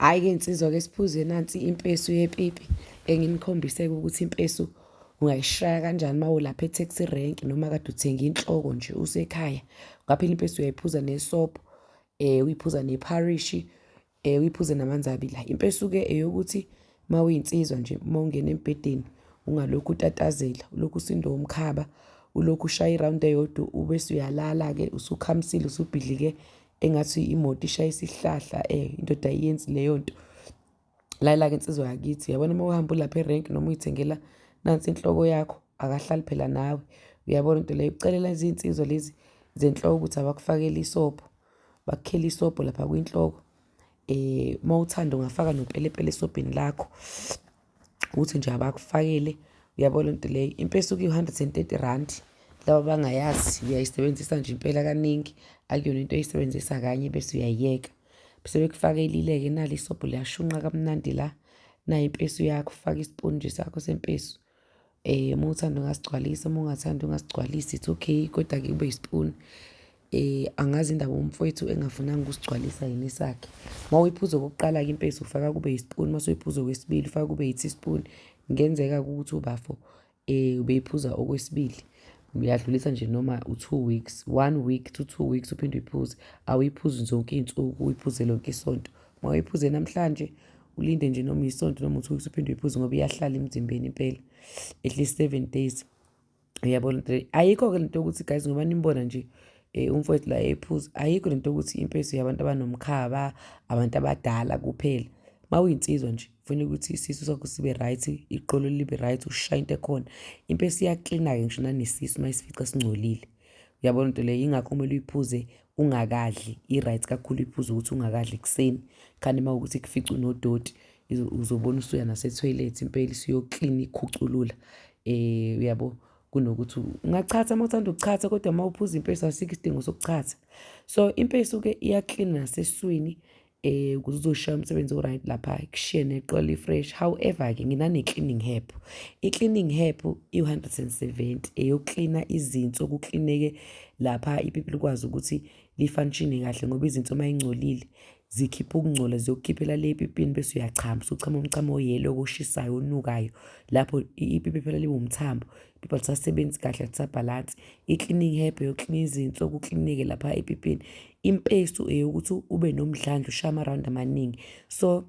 Hhayi-ke nsizwa-ke siphuze nansi impesu yepipi enginikhombise-ke ukuthi impesu ungayishaya kanjani uma ulapha e-taxi rank noma kade uthenga inhloko nje usekhaya. Ungaphela impesu uyayiphuza nesobho, um uyiphuza nepharishi, um uyiphuze namanzi abilayo. Impesu-ke eyokuthi uma uyinsizwa nje uma ungena embhedeni ungalokhu utatazela, ulokhu usindwa umkhaba, ulokhu ushaya irawundi eyodwa ubese uyalala-ke usukhamisile usubhidlike engathi imoto ishayisa isihlahla eh indoda ayenzi leyo nto layila-ke insizwa yakithi yabona uma uhamba ulapha erenki noma uyithengela nansi inhloko yakho akahlali phela nawe uyabona into leyo ucelela izinsizwa lezi zenhloko ukuthi abakufakele isobho bakukhele isobho lapha kwinhloko um uma uthanda ungafaka nopelepele esobheni lakho ukuthi nje abakufakile uyabo le nto leyo impela isuke iwu-hundred and thirty rand laba abangayazi uyayisebenzisa nje impela kaningi akuyona into oyisebenzisa kanye bese uyayiyeka sebekufakelile-ke nali isobho liyashunqa kamnandi la nayo impesu yakho ufake isipuni nje sakho sempesu Eh uma uthanda ungasigcwalisa uma ungathanda ungasigcwalisa it's okay kodwa-ke kube yisipuni eh angazi indaba umfowethu engafunanga ukusigcwalisa yini sakhe uma uyiphuza okokuqala-ke impesi ufaka kube yisipuni uma suyiphuza okwesibili ufaka kube yi-teaspoon kungenzeka ukuthi ubafo eh ubeyiphuza okwesibili uyadlulisa nje noma u-two weeks one week to two weeks uphinde uyiphuze awuyiphuzi zonke iy'nsuku uyiphuze lonke isonto uma uyiphuze namhlanje ulinde nje noma isonto noma uthi ukuthi uphinde uyiphuze ngoba iyahlala emzimbeni impela at least seven days uyabona ayikho-ke lento yokuthi guys ngoba nimbona nje um umfowethu la ephuza ayikho lento yokuthi impeso yabantu abanomkhaba abantu abadala kuphela uma uyinsizwa nje kufanele ukuthi isisu sakho sibe right iqolo libe right ushaya into ekhona impeso iyaklina-ke ngisho nanesisu uma isifica singcolile uyabona into leyo yingakho kumele uyiphuze ungakadli i-right kakhulu uyiphuze ukuthi ungakadli ekuseni khani uma ukuthi kufica unodoti uzobona usuya nasethoyilethi impela isiyoklina ikhuculula um uyabo kunokuthi ungachatha uma uthanda ukuchatha kodwa uma uphuza impesi asikho isidingo sokuchatha so impesi uke iyaklina naseswini eh ukuze uzoshaya umsebenzi o-right lapha kushiye neqola i-fresh however-ke nginane-cleaning hep i-cleaning hep iwu-hundred and seventy eyokuklina izinso kuklineke lapha ipipi likwazi ukuthi lifanishine kahle ngoba izinso uma ingcolile zikhipha ukungcola ziyokukhiphela le epipini bese uyachama usuchama umchamo oyelo koshisayo onukayo lapho ipipi phela liwumthambo pipa lisasebenzi kahle lisabhalansi i-cleaning herb yoklina izinso kuklinike lapha epipini impesu eyokuthi ube nomdlandla ushaye ama-round amaningi so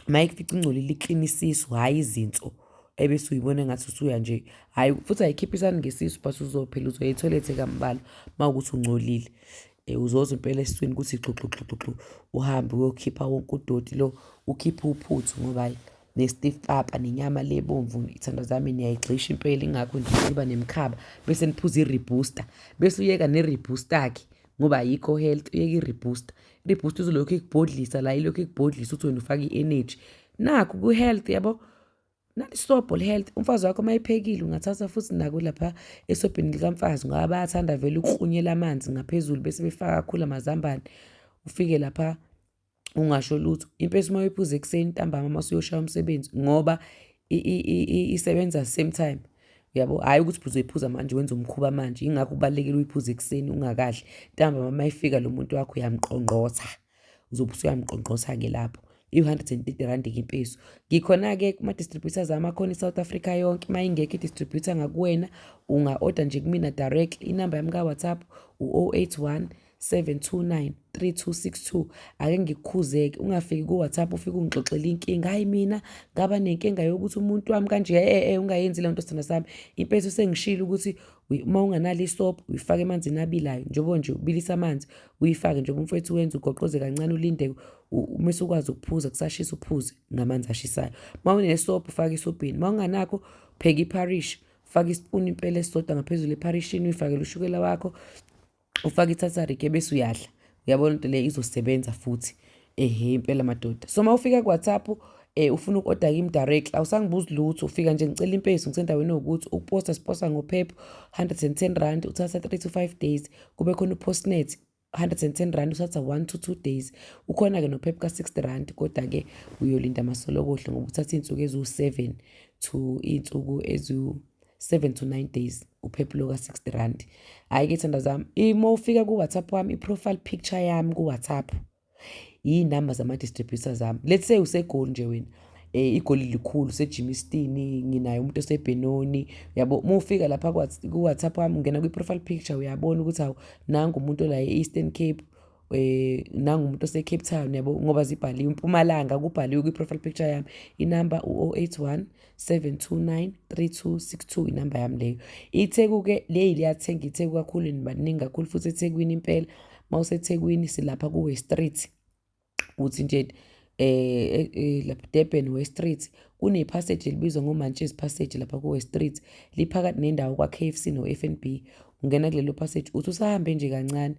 mayekufica ingcolile ikline isisu hhayi izinso ebese uyibona ngathi usuya nje hhayi futhi ayikhiphe isani ngesisu but uzophela uzoya ethoyilethe kambalwa uma ukuthi ungcolile um eh, uzoza impela esiswini ukuthi gxugxugxugxu uhambe uyokhipha wonke udoti lo ukhiphe uphuthu ngoba hhayi ne-stiff papa nenyama le ebomvu iy'thando zami niyayigxisha impela ingakho nje iba nemkhaba bese niphuza i-rebooster bese uyeka ne-rebooster-ke ngoba ayikho health uyeka i-rebooster i-rebooster uzolokhu ikubhodlisa la ilokhu ikubhodlisa ukuthi wena ufake i-energy nakho ku-health yabo nalisobho li-health umfazi wakho uma ephekile ungathatha futhi nako lapha esobhini likamfazi ngoba bayathanda vele ukuhlunyela amanzi ngaphezulu bese befaka kakhulu amazambane ufike lapha ungasho lutho impela uma uyiphuza ekuseni ntambama uma usuyoshaya umsebenzi ngoba isebenza same time yabo hhayi ukuthi uzoyiphuza manje wenza umkhuba manje yingakho kubalulekile uyiphuze ekuseni ungakadli ntambama uma ifika lo muntu wakho uyamqongqotha uzobe usuyamqongqotha-ke lapho i-hundred and thirty rand-ke impeso ngikhona-ke kuma-distributors ami akhona i-south africa yonke uma ingekho i-distributor ngakuwena unga-oda nje kumina direct inamba yami ka-whatsapp u-081 729 3262 ake ngikukhuzeke ungafiki ku WhatsApp ufike ungixoxela inkinga hayi mina ngaba nenkinga yokuthi umuntu wami kanje eh eh, eh ungayenzi le nto sithanda sami impethu sengishilo ukuthi uma unganalo isopo uyifake emanzini abilayo njengoba nje ubilisa amanzi uyifake njengoba umfethu wenza ugoqoze kancane ulinde uma usukwazi ukuphuza kusashisa uphuze ngamanzi ashisayo uma unesopo ufake isobhini uma unganakho pheka ipharishi faka isipuni impela esisodwa ngaphezulu epharishini uyifakele ushukela wakho ufake ithatharik ebese uyadla uyabona into le izosebenza futhi ehe impela madoda so uma ufika kuwhatsapp eh ufuna uku-oda kimi direct awusangibuzi lutho ufika nje ngicela impeso ngisendaweni ewukuthi ukuposta siposta ngophepho 110 rand uthatha 3 to 5 days kube khona upostnet 110 rand uthatha 1 to 2 days ukhona-ke nophepha ka-60 rand kodwa-ke uyolinda amasolokohle ngoba uthatha iy'nsuku eziwu-7 to iy'nsuku eziwu 7 to 9 days uphephulo ka-60 rand hhayi-ke thanda zami uma ufika ku-whatsapp wami i-profile picture yami ku-whatsapp yiy'namba zama-distributor zami let's say usegoli nje wena um igoli likhulu sejimistini nginaye umuntu osebhenoni yabo uma ufika lapha ku-whatsapp wami ungena kwi-profile picture uyabona ukuthi awu nangu umuntu olaye e-eastern cape eh, nangumuntu osecape town yabo ngoba zibhaliwe impumalanga kubhaliwe kwi-profile picture yami inamba u-081 729 3262 inamba yami leyo itheku-ke leyi liyathenga itheku kakhulu nibaningi kakhulu futhi ethekwini impela uma usethekwini silapha kuwe street uthi nje eh, eh lapha Durban West Street kune passage elibizwa ngoMantshezi passage lapha ku West Street liphakathi nendawo kwa KFC no FNB ungena kulelo passage uthi usahambe nje kancane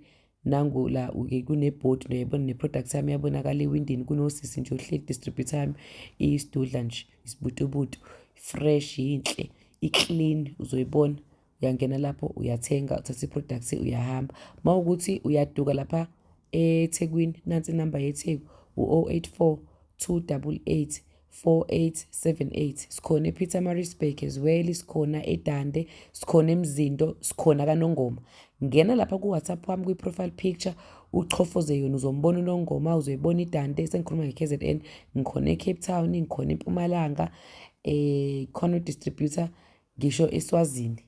nangu la uke kunebhodi nto yabona ne-product yami yabonakala ewindini kunosisi nje ohleli distributor yami iyisidudla nje isibutubutu fresh yinhle i-clean uzoyibona uyangena lapho uyathenga uthatha i-product uyahamba uma ukuthi uyaduka lapha ethekwini nansi inamba yetheku u-084 288 4878 sikhona ePietermaritzburg as well sikhona eDande sikhona eMzinto sikhona kaNongoma ngena lapha kuWhatsApp wami kwi-profile picture uchofoze yona uzombona uNongoma uzoyibona iDande sengikhuluma nge-KZN ngikhona eCape Town ngikhona eMpumalanga eh khona udistributor ngisho eSwazini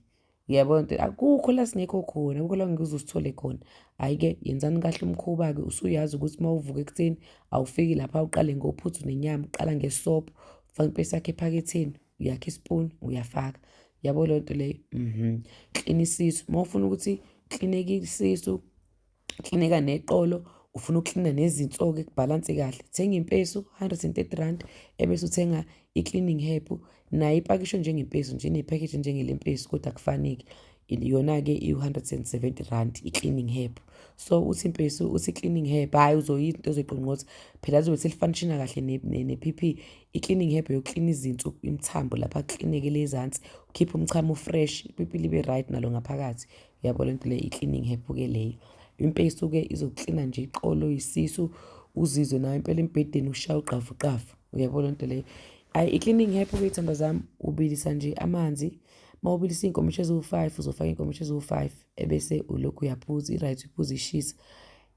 Yebo nto akukho la singekho khona, akukho la ngeke uze usithole khona. Hhayi-ke yenzani kahle umkhuba-ke usuyazi ukuthi uma uvuka ekuseni awufiki lapha uqale ngophuthu nenyama, uqala ngesobho, ufake impesi yakho ephaketheni, uyakha isipuni, uyafaka. Yabo leyo nto leyo? Mhm. Klina isisu, uma ufuna ukuthi klineke isisu, Klinika neqolo ufuna uklina nezinso-ke kubhalanse kahle thenga impesu 130 rand ebese uthenga i-cleaning herb nayo ipakishwe njengempesu nje inephakheji njengelempesu kodwa kufaneki yona-ke iwu-170 rand i-cleaning herb so uthi impesu uthi i-cleaning herb hhayi uzoyinto ozoyiqongqotha phela lizobe selifanishina kahle ne-p p i-cleaning herb yokuklina izinso imithambo lapha kuklineke lezansi ukhiphe umchamo ufresh ipipi libe right nalo ngaphakathi yabo le nto le i-cleaning hephu-ke leyo impela isuke izoklina nje iqolo isisu uzizwe nawe impela embhedeni ushaya ugqavuqavu uyabo le nto leyo ayi i-cleaning hephu-ke iy'thanda zami ubilisa nje amanzi uma ubilisa iy'nkomishi eziwu-five uzofaka iy'nkomishi eziwu-five ebese ulokhu uyaphuza i-right uphuza ishisa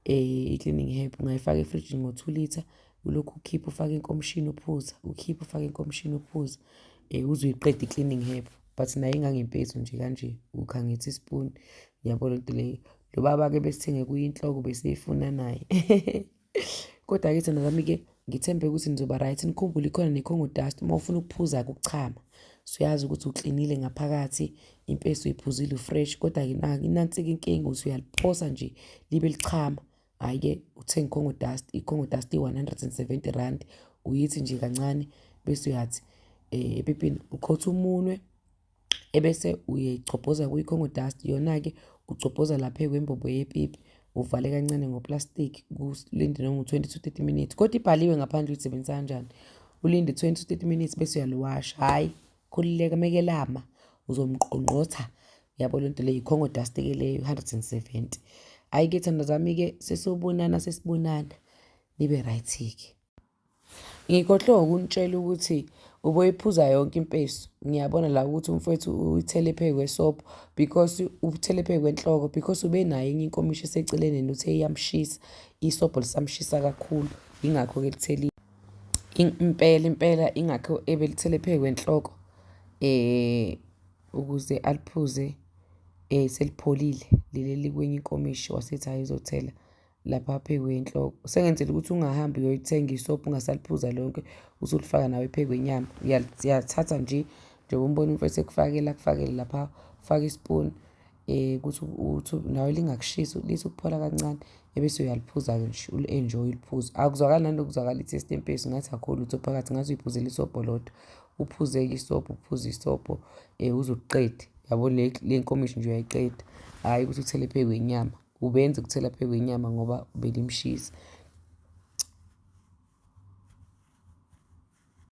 um i-cleaning hephu ungayifaka efrijini ngo-two litre ulokhu ukhipha ufake inkomishini uphuza ukhipha ufake inkomishini uphuza um eh, uzuyiqeda i-cleaning herb but naye ingangempethu nje kanje ukha ngithi ispoon yabo lento leyo lo baba-ke besithenge kuyinhloko beseyifuna naye kodwa-ke thina zami-ke ngithembe ukuthi nizoba right nikhumbule ikhona nekhongo dust uma ufuna ukuphuza kuchama suyazi ukuthi uklinile ngaphakathi impeso iphuzile ufresh kodwa-ke inansi-ke inkinga ukuthi uyaliphosa nje libe lichama Hhayi-ke uthenga iCongo Dust, iCongo Dust i-R170, uyithi nje kancane bese uyathi um epipini uqhotha umunwe ebese uyigcobhoza kwi-Congo Dust. Yona-ke ugcobhoza lapha kwembobo yepipi, uvale kancane ngoplastiki kulinde noma u-twenty to thirty minutes. Kodwa ibhaliwe ngaphandle uyisebenzisa kanjani, ulinde twenty to thirty minutes bese uyaliwasha, hhayi. Khulileka mekelama uzomqongqotha yabo lento le yikhongo dust ke leyo 170 hayi ke thanda zami ke sesobonana sesibonana nibe right ke ngikhohle ukunitshela ukuthi uboyiphuza yonke impeso ngiyabona la ukuthi umfowethu uyithele phezu kwesobho because ubuthele phezu kwenhloko because ube nayo enye inkomishi eseceleni and uthe iyamshisa isobho lisamshisa kakhulu yingakho ke lithelile Impela impela ingakho ebelithele phezu kwenhloko ukuze aliphuze selipholile leli elikwenye inkomishi wasethi hhayi uzothela lapha phezu kwenhloko. Sengenzela ukuthi ungahambi uyoyithenga isobho ungasaliphuza lonke usulifaka nawe phezu kwenyama. Uyalithatha nje njengoba umbona umfowethu ekufakela akufakele lapha, ufake isipuni. Eh, ukuthi uthi nawe lingakushisi lithi ukuphola kancane ebese uyaliphuza-ke nje uli-enjoy uliphuze akuzwakali nani lokuzwakala i-taste empesi ngathi akho lutho phakathi ngathi uyiphuze lisobho lodwa uphuze-ke isobho uphuze isobho um eh, uzokuqeda yabo le nkomishi nje uyayiqeda hhayi ukuthi uthele phezu kwenyama ubenze ukuthela phezu kwenyama ngoba belimshisa